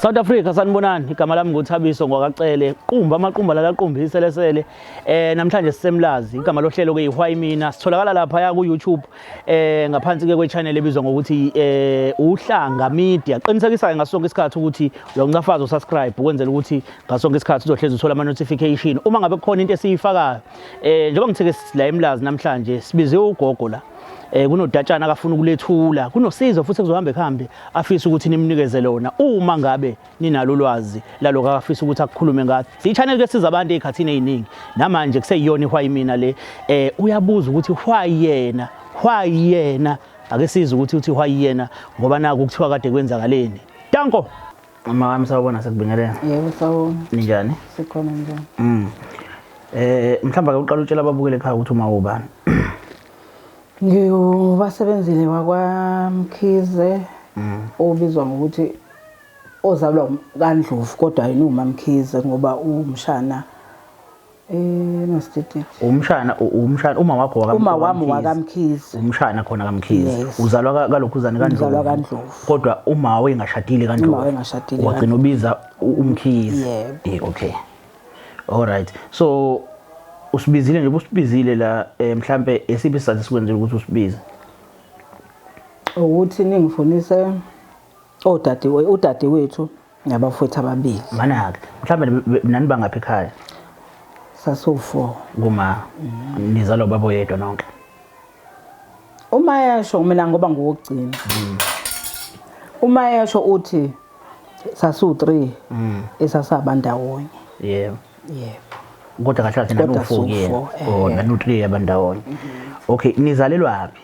South Africa sanibonani igama lami nguthabiso ngwakacele qumba amaqumba lala qumbi iselesele eh namhlanje sisemlazi igama lohlelo ke ihwayi mina sitholakala lapha ya ku YouTube eh ngaphansi ke kwe channel ebizwa ngokuthi eh uhlanga media qinisekisa ke ngasonke isikhathi ukuthi uyoncafaza usubscribe ukwenzela ukuthi ngaso sonke isikhathi uzohlezi uthola ama-notification uma ngabe kukhona into esiyifakayo um njengoba ngitheke la emlazi namhlanje sibiziwe ugogo la eh kunodatshana akafuna ukulethula kunosizo futhi kuzohamba ekuhambe afisa ukuthi nimnikeze lona uma ngabe ninalo ulwazi laloko akafisa ukuthi akukhulume ngathi siyichannel ke siza abantu ezikhathini eziningi namanje kuseyiyona ihwayi mina le eh uyabuza ukuthi why yena why yena ake siza ukuthi uthi why yena ngoba naku kuthiwa kade kwenzakaleni danko Mama wami sawubona sekubingelela. Yebo sawubona. Ninjani? Sikhona njani? Mm. Eh mhlawumbe ake uqale utshela ababukeli ekhaya ukuthi uma ubani. Ngiwubasebenzile wakwaMkhize. Mm. Obizwa ngokuthi ozalwa kaNdlovu kodwa yini uMamkhize ngoba umshana eMasitititi. Umshana umshana uma wakho wakamkhizi. Uma wami wakamkhizi. Umshana khona kamkhizi. Uzalwa kalokhuzane kaNdlovu. Uzalwa kaNdlovu. Kodwa uma wayengashadile kaNdlovu. Uma wayengashadile. Wagcina ubiza umkhizi. Yebo. Okay. All right. So usibizile nje ubusibizile la eh, mhlambe esiphi isizathu sikwenzile ukuthi usibize? Ukuthi ningifunise odadewethu udadewethu Ngiyabafowethu ababili. Manake. Mhlawumbe nibe- nani bangaphi ekhaya? Sasiwu-four. Kuma nizalwa ubaba oyedwa nonke. Uma yesho mina ngoba ngowokugcina. Uma yesho uthi sasiwu-three esasaba ndawonye. Yebo. Yebo. Kodwa kahle kahle Kodwa nanu-four siwu-four, kuyena. eh. Oh, nanu-three abandawonye. Okay, nizalelwaphi?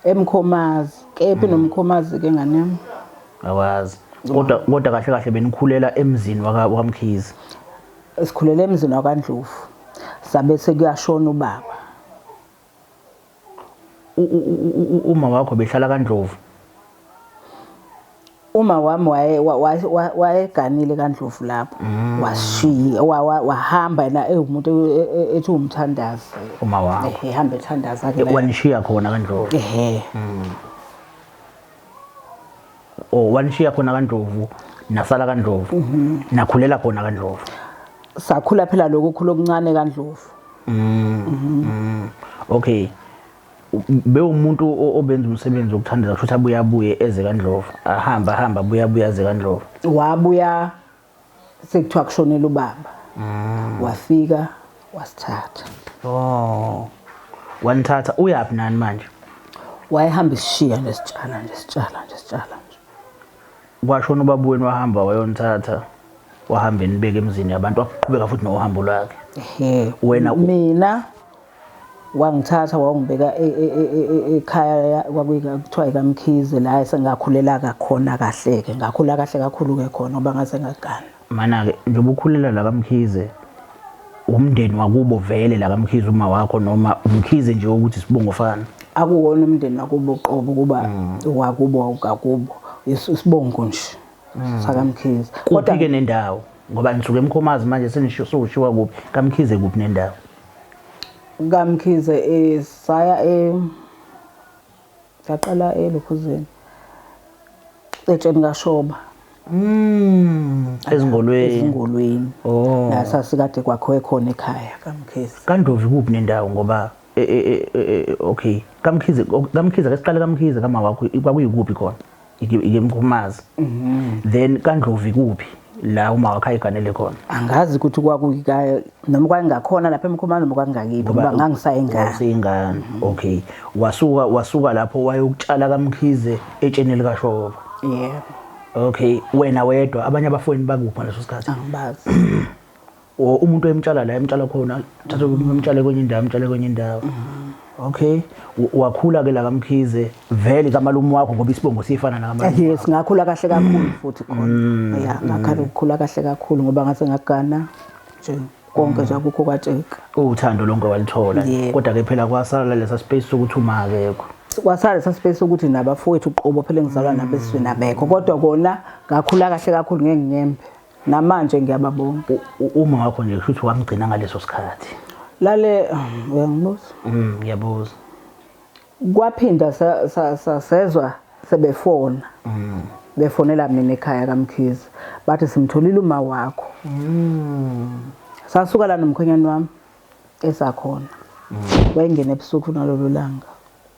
emkhomazi kephi mm. nomkhomazi ke ngane yami awazi kodwa kodwa kahle kahle benikhulela emzini wakamkhizi sikhulela emzini wakandlovu sabe sekuyashona ubaba uma wakho behlala kandlovu Uma wami waye wa- wa- wa- wayeganile kaNdlovu lapho Mm. washiya wa- wa- wahamba yena ewumuntu e- e- e- ethi umthandazi Uma wakho. Ehe, ehamba ethandaza ke naye. Wanishiya khona kaNdlovu. ehe Oh, wanishiya khona kaNdlovu, nasala kaNdlovu. Mhm. Nakhulela khona kaNdlovu. sakhula phela lokhu khula okuncane kaNdlovu Mm. Mm. Okay. bewumuntu obenza umsebenzi wokuthandela kusho ukuthi abuye abuye eze kaNdlovu ahambe ahambe abuye abuye aze kaNdlovu wabuya sekuthiwa kushonela ubaba mm. wafika wasithatha oh wanithatha uyaphi nani manje wayehamba isishiya nje sitshala nje sitshala nje sitshala nje kwashona ubaba wenu wahamba wayonithatha wahamba enibeke emzini yabantu waqhubeka futhi nohambo lwakhe ehe wena mina Wangithatha wawungibeka ekhaya kwakuthiwa ikaMkhize la esengakhulela kakhona kahle-ke. Ngakhula kahle kakhulu-ke khona ngoba ngase ngagana. Mana-ke njengoba ukhulela la kaMkhize, wumndeni wakubo vele la kaMkhize uma wakho noma uMkhize nje ukuthi isibongo fana? Akuwona umndeni wakubo qobo kuba mm. wakubo wawukakubo. Isibongo nje mm. sakaMkhize. Kodwa-ke nendawo ngoba nisuke emkhomazi manje senishiwa kuphi kaMkhize kuphi nendawo? kaMkhize eh, saya eh, saqala elokhuzeni eh, etsheni kashoba Mm. Ezingolweni. Ezingolweni. Oh. La sasikade kwakho ekhona ekhaya kaMkhize. KaNdovi kuphi nendawo ngoba e, e, e, okay. KaMkhize KaMkhize kesiqale kaMkhize kama wakho kwakuyikuphi khona? ikemkhumazi mhm. then kandlovi kuphi la uma wakhe ayiganele khona angazi ukuthi kwakuyikayo noma kwakungakhona lapha emkhumani noma kwakungakibi ngoba ngangisayingane singane mhm. okay wasuka wasuka lapho wayokutshala kamkhize etsheni likashoba yeah okay wena wedwa abanye abafweni bakuphi ngaleso sikhathi angibazi or umuntu ayemtshala la emtshala khona thatha umtshale kwenye indawo amtshale kwenye indawo okay wakhula ke la kamkhize vele kamalume wakho ngoba isibongo sifana nakamalume yes ngakhula kahle kakhulu futhi khona mm. ya ngakhala ukukhula kahle kakhulu ngoba ngase ngagana nje konke nje akukho kwatsheka uthando lonke walithola kodwa ke phela kwasala lesa space sokuthi uma akekho kwasala lesa space ukuthi nabafowethu uqobo phela engizalwa nabesizwe nabekho kodwa kona ngakhula kahle kakhulu ngengembe namanje ngiyababonga uma wakho nje kusho ukuthi wamgcina ngaleso sikhathi lale uyangibuza mm ngiyabuza kwaphinda sasezwa sebefona mm. befonela mina ekhaya kamkhizi bathi simtholile uma wakho mm. sasuka la nomkhonyane wami esakhona mm. wayengena ebusuku nalolu langa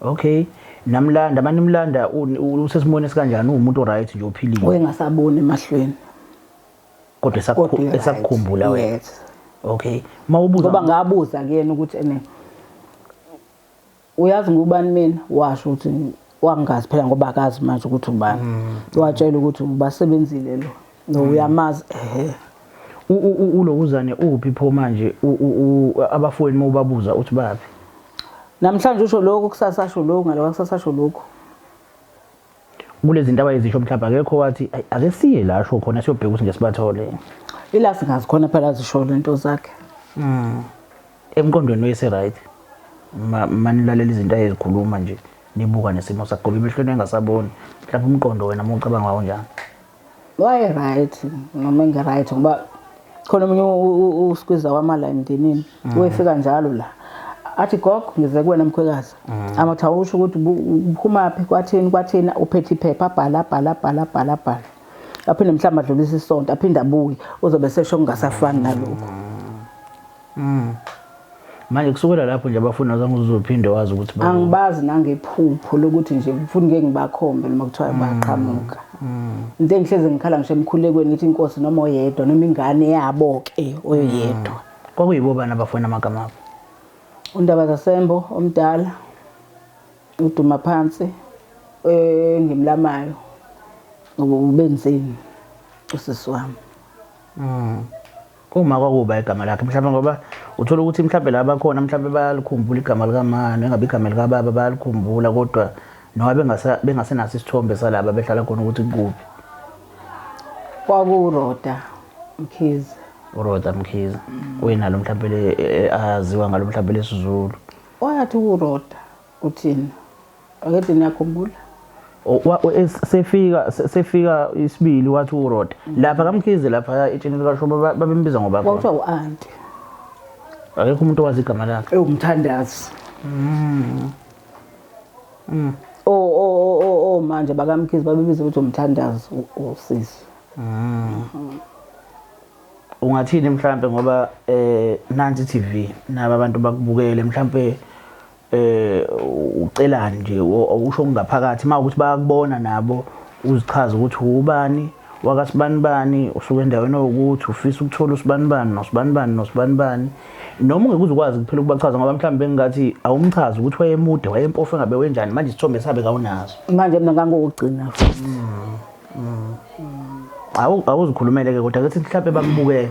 Okay. Namlanda manje umlanda usesimweni esikanjani umuntu right nje ophilile. Uyengasaboni emahlweni. Kodwa esakukhumbula wena. Yes. Okay. Mawubuza ngoba ngabuza kuyena ukuthi ene uyazi ngubani mina washo ukuthi wangazi phela ngoba akazi manje ukuthi ubani. Mm. Watshela ukuthi ubasebenzile lo. no mm. uyamazi ehe ulokuzane uphi pho manje abafowenu mawubabuza uthi baphi namhlanje usho lokho kusasa asho lokho ngaloba kusasa asho lokho kulezinto abayizisho mhlawumbe akekho wathi ake siye la asho khona siyobheka ukuthi ngesibathole ila singazi khona phela zisho lento zakhe mm emqondweni wese right manilalela izinto ayezikhuluma nje nibuka nesimo sakhe ngoba emehlweni engasaboni mhlawumbe umqondo wena mucabanga wawo njani Waye-right noma engi-right ngoba khona omunye uskwiza wamala emndenini mm. wefika njalo la athi gogo ngize kuwena mkhwekazi mm. amathi awusho ukuthi uphumaphi kwathini kwathini uphethe iphepha abhala abhala abhala abhala abhala aphinde mhlawumbe adlulise isonto aphinde abuye uzobe sesho kungasafani nalokho mm. Mm. Manje kusukela lapho nje abafuna zange uzophinde wazi ukuthi ba Angibazi nangephupho lokuthi nje ngifuna ngeke ngibakhombe noma kuthiwa mm. baqhamuka. Mm. Into engihleze ngikhala ngisho emkhulekweni ngithi inkosi noma oyedwa noma ingane yabo ke oyedwa. Mm. Kwakuyibo bani abafuna amagama abo? Undaba zasembo omdala uduma phansi eh ngimlamayo ubenzeni usisi wami. Mm. Uma kwakuba igama lakhe mhlawumbe ngoba uthola ukuthi mhlawumbe la bakhona mhlawumbe bayalikhumbula igama likamani engabe igama likababa bayalikhumbula kodwa noma bengasenaso isithombe salaba behlala khona ukuthi kuphi kwakuroda mkhize uroda mkhize uyenalo mhlawumbe e, e, aziwa ngalo mhlawumbe lesizulu wayathi uroda uthini Akede niyakhumbula. sefika sefika isibili wathi uRoda lapha kaMkhize lapha etsheni likashoba ba- babembiza ngoba Kwakuthiwa u-anti. akekho umuntu owazi igama lakhe ewumthandazi o o o o o manje bakamkhizi babebiza ukuthi umthandazi u- usisi ungathini mhlambe ngoba eh nansi TV naba abantu bakubukele mhlambe eh ucelani nje usho ngaphakathi mawukuthi bayakubona nabo uzichaza ukuthi ubani wakasibanibani usuke endaweni ewukuthi ufisa ukuthola usibanibani nosibanibani nosibanibani noma ungeke uzukwazi kuphela ukubachaza ngoba mhlawumbe bengingathi awumchazi ukuthi wayemude wayempofu engabe wenjani manje isithombe sabe kawunazo manje mina ngangokugcina futhi mm, mm. awuzikhulumele-ke kodwa kethi mhlawumbe bakubukele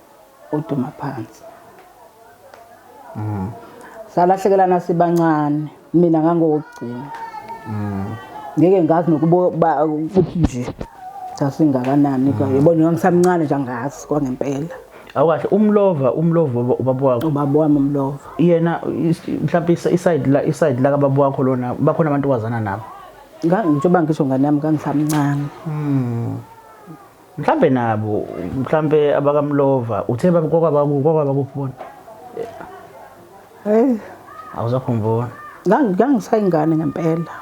uDumaphansi. Mm. Salahlekelana sibancane mina ngangokugcina. Mm. Ngeke ngazi nokuba ukuthi nje sasingakanani mm. kwaye bona ngangisamncane nje angazi kwangempela. Awukahle umlova umlova ubaba wakho. Ubaba wami umlova. Yena mhlawumbe iside la iside la kababa wakho lona bakhona abantu kwazana nabo. Ngangijoba ngisho ngane yami ngangisamncane. Mm. mhlambe nabo mhlambe abakamlova uthe babukokwabakukwabakubona hey awuzakhumbula ngangisayingane ngempela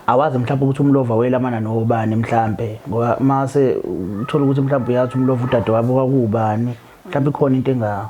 awazi mhlawumbe ukuthi umlova welamana nobani mhlambe ngoba mase uthola ukuthi mhlawumbe uyathi umlova udade wabo kwakuwubani mhlawumbe ikhona into engawo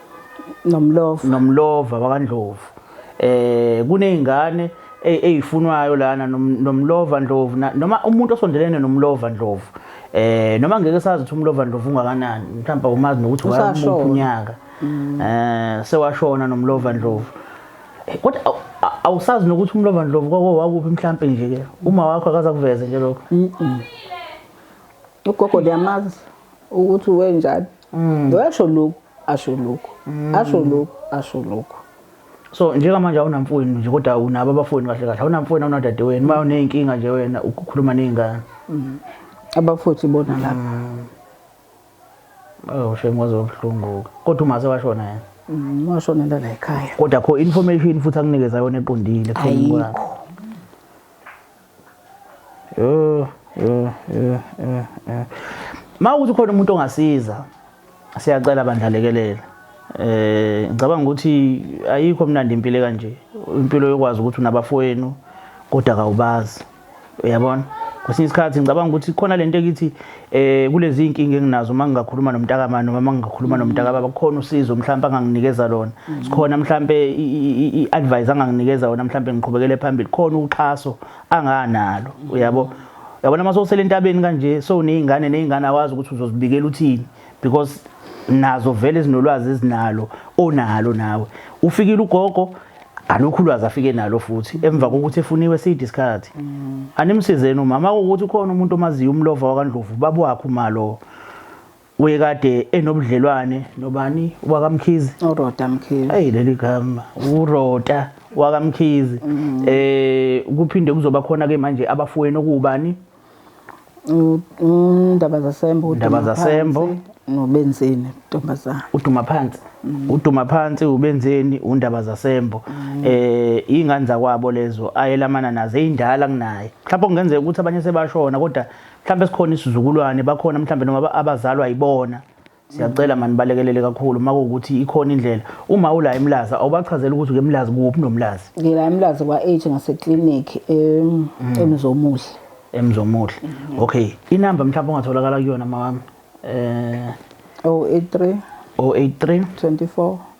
nomlova nomlova wakandlovu eh kunezingane ezifunwayo lana nomlova ndlovu noma umuntu osondelene nomlova ndlovu eh noma ngeke sazi ukuthi umlova ndlovu ungakanani mhlawumbe umazi nokuthi wayamuphi unyaka mm. eh sewashona nomlova ndlovu eh, kodwa awusazi nokuthi umlova ndlovu kwako wakuphi mhlawumbe nje ke uma wakho akaza kuveze nje lokho ugogo liyamazi ukuthi wenjani mm. lo yasho lokhu asho lokhu mm. asho lokhu asho lokhu so njengamanje awunamfowenu nje kodwa unabo abafowenu kahle kahle awunamfowenu awunadadewenu uma uney'nkinga nje wena ukukhuluma ney'ngane mm. abafuthi bona lapha mm. oh shame waze wabuhlungu-ke kodwa umaze washona yena mm, washonela la ekhaya kodwa kho information futhi akunikeza yona eqondile ayikho Yho, yho, yho, yho, yho. Uma ukuthi khona umuntu ongasiza, siyacela bandla lekelela. Eh ngicabanga ukuthi ayikho mnandi impilo ekanje. Impilo yokwazi ukuthi unabafowenu kodwa kawubazi. Uyabona? Kwesinye isikhathi ngicabanga ukuthi khona lento ekithi eh kulezi inkinga enginazo uma ngingakhuluma nomntakama noma uma ngingakhuluma nomntakaba bakhona usizo mhlawumbe anganginikeza lona mm. sikhona mhlawumbe i-advice anganginikeza wona mhlawumbe ngiqhubekele phambili khona uxhaso anganalo uyabo yabona uma sowusele entabeni kanje so uney'ngane ney'ngane awazi ukuthi uzozibikela uthini because nazo vele ezinolwazi ezinalo onalo nawe ufikile ugogo alukho ulwazi afike nalo futhi emva kokuthi efuniwe side isikhathi mm. animsizeni umama ukuthi ukhona umuntu omaziyo umlova wakandlovu babu wakhe umalo uye kade enobudlelwane nobani wakamkhizi uroda mkhizi hey leli gama uroda wakamkhizi mm. eh kuphinde kuzoba khona ke manje abafweni okubani Indaba zasembo. Indaba zasembo. Nobenzeni ntombazana. Uduma phansi. Mm. Uduma phansi ubenzeni undaba zasembo. Mm. Eh ingane zakwabo lezo ayelamana nazo ezindala kunaye. Mhlawumbe kungenzeka ukuthi abanye sebashona kodwa mhlawumbe sikhona isizukulwane bakhona mhlawumbe noma abazalwa yibona. Siyacela mani balekelele kakhulu makuwukuthi ikhona indlela. Uma ula eMlazi awubachazela ukuthi ukeMlazi kuphi noMlazi. Ngila eMlazi kwa age ngase clinic em emzomuhle. Emzomuhle. Okay. Inamba mhlawumbe ongatholakala kuyona mawami. Eh 083 083 24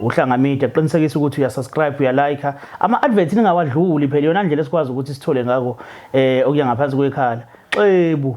Uhlanga Media qinisekisa ukuthi uya subscribe uya like ama adverts ningawadluli phela yona ndlela esikwazi ukuthi sithole ngako eh okuya ngaphansi kwekhala xebu